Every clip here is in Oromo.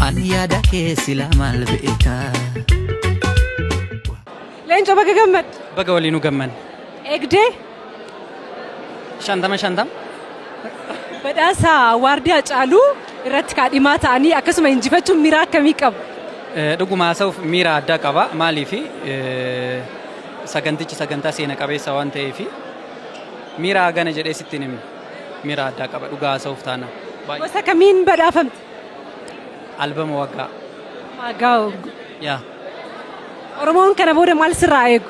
An yaada kee silaa maal beekaa. Leencoo baga gammadde. Baga waliin nu gamman. Eegdee Shantama shantam. badhaasa waardii Hacaaluu irratti kaadhimaa ta'anii akkasuma injifachuun miira akkamii qabu? Eh, Dhuguma haasa'uuf miira addaa qaba. Maaliif sagantichi sagantaa seena qabeessa waan ta'eef miira hagana jedhee sitti hin himne. Miira addaa qaba dhugaa haasa'uuf taana. Baay'ee. Gosa kamiin badhaafamte? Albama waggaa. Waggaa waggaa. Yaa. Oromoon kana booda maal sirraa eegu?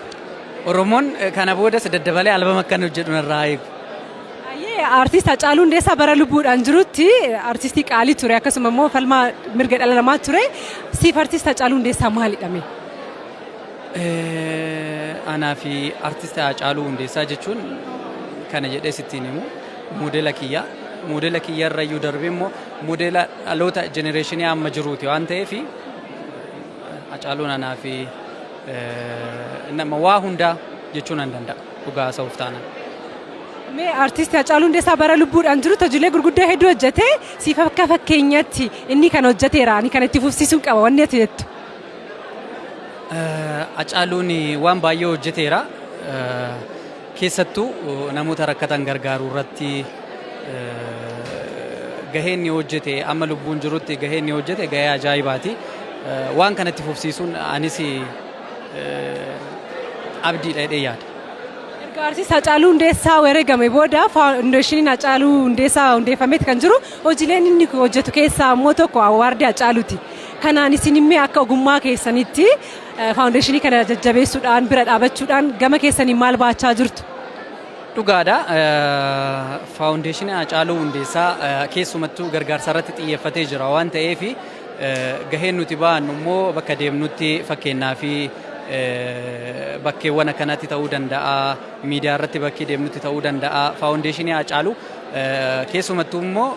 Oromoon eh, kana boodas daddabalee albama akkan hojjedhu narraa eegu. Ayyee artiist Hacaaluu Hundeessaa bara lubbuudhaan jirutti artiistii qaalii ture akkasuma immoo falmaa mirga dhala namaa ture. Siif artiist Hacaaluu Hundeessaa maalidha mee? Eh, Anaa fi artiist Hacaaluu Hundeessaa jechuun kana jedhee sittiin himu. moodela kiyya. Moodela kiyya irra iyyuu darbee immoo moodela dhaloota jenereeshinii amma jiruuti waan ta'eef Hacaaluun anaa fi nama waa hundaa jechuu nan danda'a dhugaa haasa'uuf taanaan. Mee artisti Hacaaluu Hundeessaa bara lubbuudhaan jirutti hojiilee gurguddoo hedduu hojjetee siif akka fakkeenyatti inni kan hojjeteera ani kan itti fufsiisuun qaba wanni ati jettu. Hacaaluun waan baay'ee hojjeteera. Keessattuu namoota rakkatan gargaaruu irratti gahee inni hojjete amma lubbuun jirutti gahee inni hojjete gahee ajaa'ibaati. Waan kanatti fufsiisuun anis abdiidha jedhee yaada. Erga artiist Hacaaluu Hundeessaa wareegame booda faawundeeshiniin Hacaaluu Hundeessaa hundeeffameeti kan jiru hojiileen inni hojjetu keessaa ammoo tokko awwaardii Hacaaluuti. Kanaan isin immee akka ogummaa keessanitti Faawundeeshinii kana jajjabeessuudhaan bira dhaabachuudhaan gama keessaniin maal baachaa jirtu? Dhugaadha. Faawundeeshinii Haacaaluu Hundeessaa keessumattuu gargaarsa irratti xiyyeeffatee jira waan ta'eef gaheen nuti baannu immoo bakka deemnutti fakkeenyaa fi bakkeewwan akkanatti ta'uu danda'a, miidiyaa irratti bakkee deemnutti ta'uu danda'a. Faawundeeshinii Haacaaluu keessumattuu immoo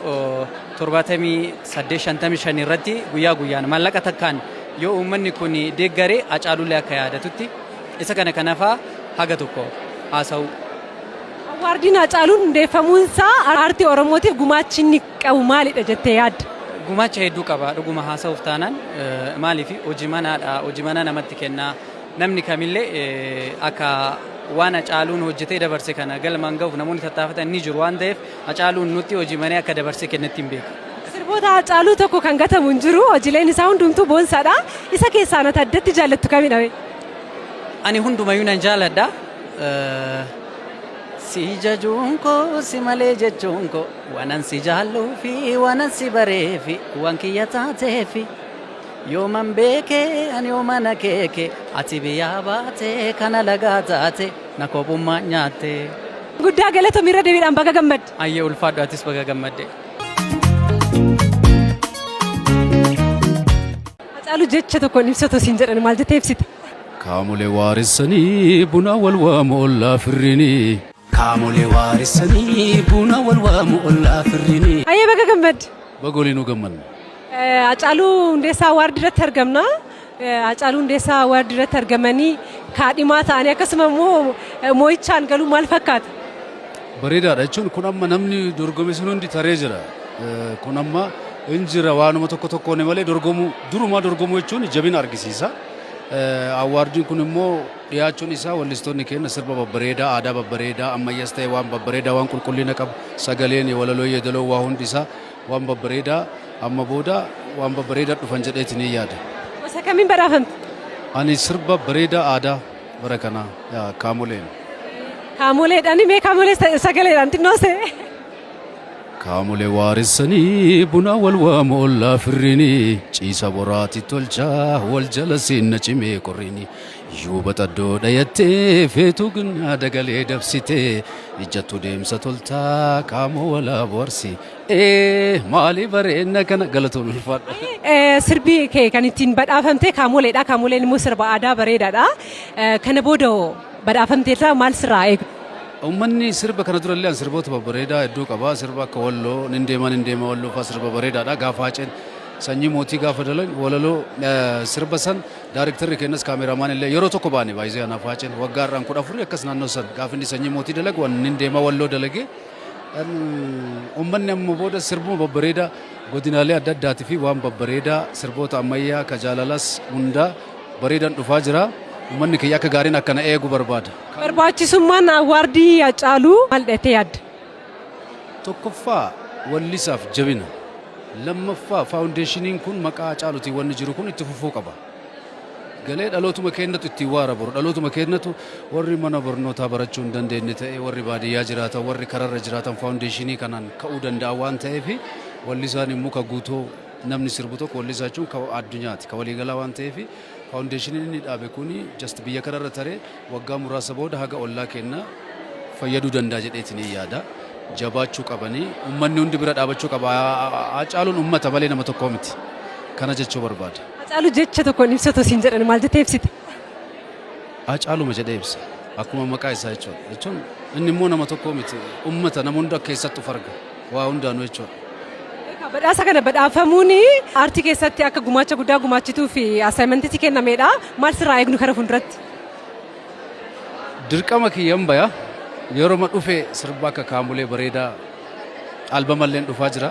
78-55 irratti guyyaa guyyaan maallaqa takkaan Yoo uummanni kun deeggare Hacaaluullee akka yaadatutti isa kana kan hafaa haga tokko haasawuu. Awwaardiin Hacaaluun hundeeffamuunsaa aartii Oromootiif gumaachi inni qabu maalidha jettee yaadda? Gumaacha hedduu qaba dhuguma haasawuuf taanaan maaliif hojimanaadha hojimanaa namatti kenna namni kamillee akka waan Hacaaluun hojjetee dabarse kana galmaan gahuuf namoonni tattaafatan ni jiru waan ta'eef Hacaaluun nutti hojii banee akka dabarsee kennetti hin beeku. Sirboota Hacaaluu tokko kan gatamu hin jiru. Hojileen isaa hundumtuu boonsaadha. Isa keessaan ati addatti jaallattu kamidha mee? Ani hundumayyuu nan jaaladha. Si jajuun koo si malee jechuun koo waanan si jaalluu fi waanan si baree fi waan kiyya taatee fi yooman beekee ani yoomana keeke ati biyyaa baatee kana lagaa taate. Na kophummaa nyaattee. Guddaa galatomi irra deebiidhaan baga gammadde. Ayyee ulfaadhu atis baga gammadde. Hacaalu jecha tokkoon ibsatu siin jedhan maal jettee ibsita? Kaamolee waaressanii buna wal waamu ollaa firrinii. Kaamolee waaressanii buna wal waamu ollaa firrinii. Ayyee baga gammadde. Baga waliinuu gammadne. Hacaaluu Hundeessaa Awaard irratti argamna. Hacaaluu Hundeessaa Awaard irratti argamanii kaadhimaa ta'anii akkasuma immoo moo'ichaan galuu maal fakkaata? Bareedaadha jechuun kun amma namni dorgome sun hundi taree jira. Kun amma hin jira waanuma tokko tokkoon malee dorgomuu durumaa dorgomuu jechuun jabina argisiisa. Awwaardiin kun immoo dhiyaachuun isaa wallistoonni keenya sirba babbareedaa, aadaa babbareedaa, ammayyaas ta'e waan babbareedaa, waan qulqullina qabu, sagaleen, walaloo, yeedaloo, waa hundi isaa Waan babbareedaa amma booda waan babbareedaa dhufan jedheetiin yaada. Gosa kamiin badhaafamte? Ani sirba bareedaa aadaa bara kanaa yaa kaamoleen. Kaamoleedhaan mee kaamolee sa- sagaleedhaan xinnoo se. Kaamolee waaressanii buna wal waamu ollaa firrini ciisa boraati tolchaa wal jala seenna cimee qorrini Yoo baxaddoo dhayattee feetuu ginnaa dagalee dabsitee ijjattuu deemsa toltaa qaamoo walaa boharsi. Ee maalii bareenna kana galatoon ulfaadha. Eh, Sirbi kee kan ittiin badhaafamte kaamoleedha. Kaamoleen immoo sirba aadaa bareedaadha. Eh, Kana booda hoo badhaafamteerraa maal sirraa eegu? Uummanni sirba kana durallee an sirboota babbareedaa hedduu qaba. Sirba akka walloo, nin deema nin deema walloo fa'aa sirba bareedaadha. Gaafa haceen sanyii mootii gaafa dalan walaloo eh, sirba san Daarektarri keenyas kaameeraamaan illee yeroo tokko baane baay'isee anaaf haaceen waggaa har'aan kudha afurii akkas naannoo san gaafa inni sanyii mootii dalagu waan inni deemaa walloo dalagee uummanni amma booda sirbuma babbareedaa godinaalee adda addaatii fi waan babbareedaa sirboota ammayyaa ka jaalalas hundaa bareedan dhufaa jira. Uummanni kiyya akka gaariin akkana eegu barbaada. Barbaachisummaan awwaardii Haacaaluu maal dheettee yaadda? Tokkoffaa wallisaaf jabina. Lammaffaa faawundeeshiniin kun maqaa Hacaalutiin wanni jiru kun itti fufuu qaba. Galee dhalootuma keennatu ittiin waa raboru. Dhalootuma keennatu warri mana barnootaa barachuu hin dandeenye ta'ee warri baadiyyaa jiraatan warri kararra jiraatan faawundeeshinii kanaan ka'uu danda'a waan ta'eef wallisaan hin muka guutuu namni sirbu tokko wallisaa jechuun ka addunyaati ka waliigalaa waan ta'eef faawundeeshiniin inni dhaabe kun just biyya kanarra taree Waggaa muraasa booda haga ollaa keenna fayyaduu danda'a jedheetiniin yaada. Jabaachuu qabanii ummanni hundi bira dhaabachuu qaba. Haacaaluun ummata malee nama tokkoo miti. Kana jechuu barbaada. Haacaaluu jecha tokkoon ibsatu siin jedhan maal jettee ibsita? Haacaaluma jedhee ibsa. Akkuma maqaa isaa jechuudha. Jechuun inni immoo nama tokkoo miti. Ummata nama hunda keessatti of arga. Waa hundaanuu jechuudha. Egaa badhaasa kana badhaafamuun aartii keessatti akka gumaacha guddaa gumaachituu fi assignment si kennameedha. Maal sirraa eegnu kara fuulduratti? Dirqama kiyyan baya yeroma dhufe sirba akka kaamulee bareedaa albamalleen dhufaa jira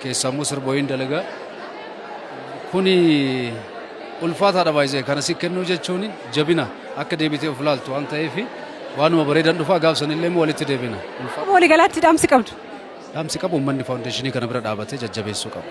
keessaa immoo sirba wayiin dalagaa kuni ulfaataadha baay'ee kana si kennuu jechuun jabina akka deebitee of ilaaltu waan ta'eef waanuma bareedan dhufaa gaafsanillee immoo walitti deebina. Ulfaata. Walii galaatti dhaamsi qabdu. Dhaamsi qabu uummanni faawundeeshinii kana bira dhaabatee jajjabeessuu qaba.